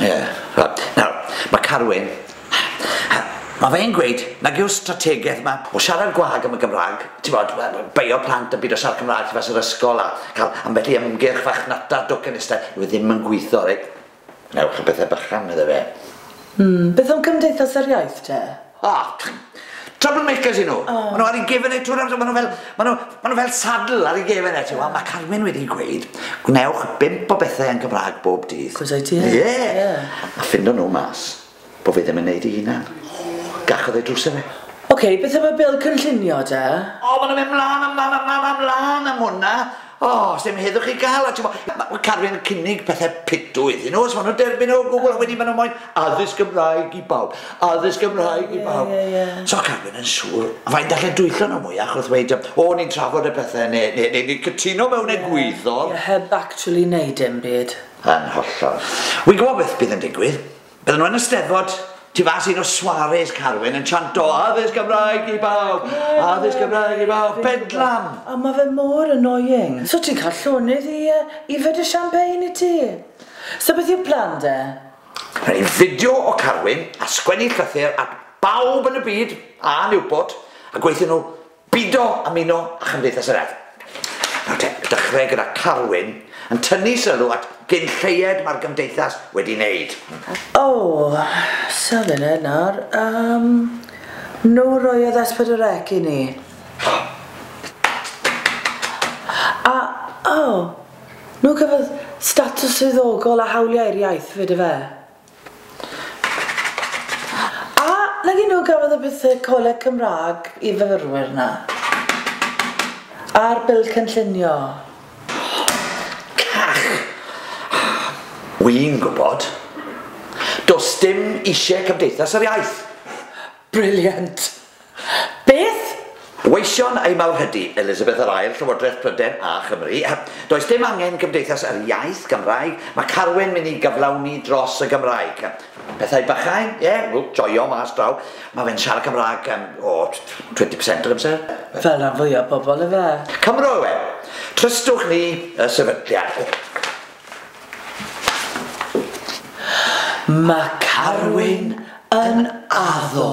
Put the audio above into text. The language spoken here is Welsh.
Ie, reit. Nawr, mae Carwyn, mae fe'n gweud nag yw'r strategaeth yma o siarad gwag am y Gymraeg, ti'n gwybod, beio plant yn byd o siarad Cymraeg tu fas yr ysgol a cael ambell i ymgyrch farchnata docenistaidd, yw e ddim yn gweithio, reit? Ewch a pethau bychan, medda fe. Mm, beth am Cymdeithas yr Iaith te? O! Trouble makers y'n nhw. Ma' nhw ar eu gefen eu trwy'r amser, ma' nhw fel, ma' nhw, ma' nhw fel saddle ar eu gefen e, t'mod? Ma' Carmen wedi gweud, gwnewch bump o bethe yn Gymrâg bob dydd. Cos ai ti yn? Ie! Ie. A ffindo nhw mas bo' fe ddim yn neud 'i hunan. O! Gachodd ei drws e fe. Oce, beth am y bil cynllunio te? O, ma' nhw'n mynd mlan a mlan a mlan a mlan am hwnna. O, sdim heddwch i gael, a t'mo, mae Carwyn yn cynnig pethau pitw iddyn nhw, os maen nhw'n derbyn o gwbl, a wedyn maen nhw moyn addysg Gymraeg i bawb, addysg Gymraeg i bawb. Yeah, yeah, yeah. So Carwyn yn siŵr, fain dallen dwyllon nhw mwyach wrth weid, o, ni'n trafod y pethau, neu, neu, neu, neu cytuno mewn yeah, egwyddor. Yeah, heb actually neud dim byd. Yn hollol. Wy'n gwybod beth bydd yn digwydd. Bydden nhw yn y Steddfod, tu fas i un o soirees Carwyn, yn chanto Addysg Gymraeg i bawb! Addysg Gymraeg i bawb! Bedlam! O, mae fe mor annoying. So ti'n cael llonydd i yfed y champagne i ti. So beth yw'r plan de? Rhaid ni fideo o Carwyn a sgwennu llythyr at bawb yn y byd, a Newport, a gweithio nhw Bido a Mino a Chymdeithas yr Urdd. Nawr te, dechrau gyda Carwyn yn tynnu sylw at gyn lleied mae'r Gymdeithas wedi wneud. O, safele nawr, yym, nhw roiodd S4C i ni. A, o, nhw cafodd statws swyddogol a hawliau i'r iaith 'fyd ife? A nag un nhw gafodd y buthe coleg Cymraeg i fyfyrwyr 'na? A'r Bil Cynllunio? Cach! Wi'n gwybod. Does dim isie Cymdeithas yr Iaith. Brilliant! Beth? Gweision ei mawrhydi, Elizabeth yr Ail, Llywodraeth Pryden a Chymru. Does dim angen Cymdeithas yr Iaith Gymraeg, mae Carwyn mynd i gyflawni dros y Gymraeg. Pethau bychain? Ie, wel, joio mas draw. Mae fe'n siarad Cymraeg, o, 20 percent yr amser. Fel rhan fwya o bobl, ife? Cymro yw e. Trystwch ni y sefydliad. Mae Carwyn yn addo.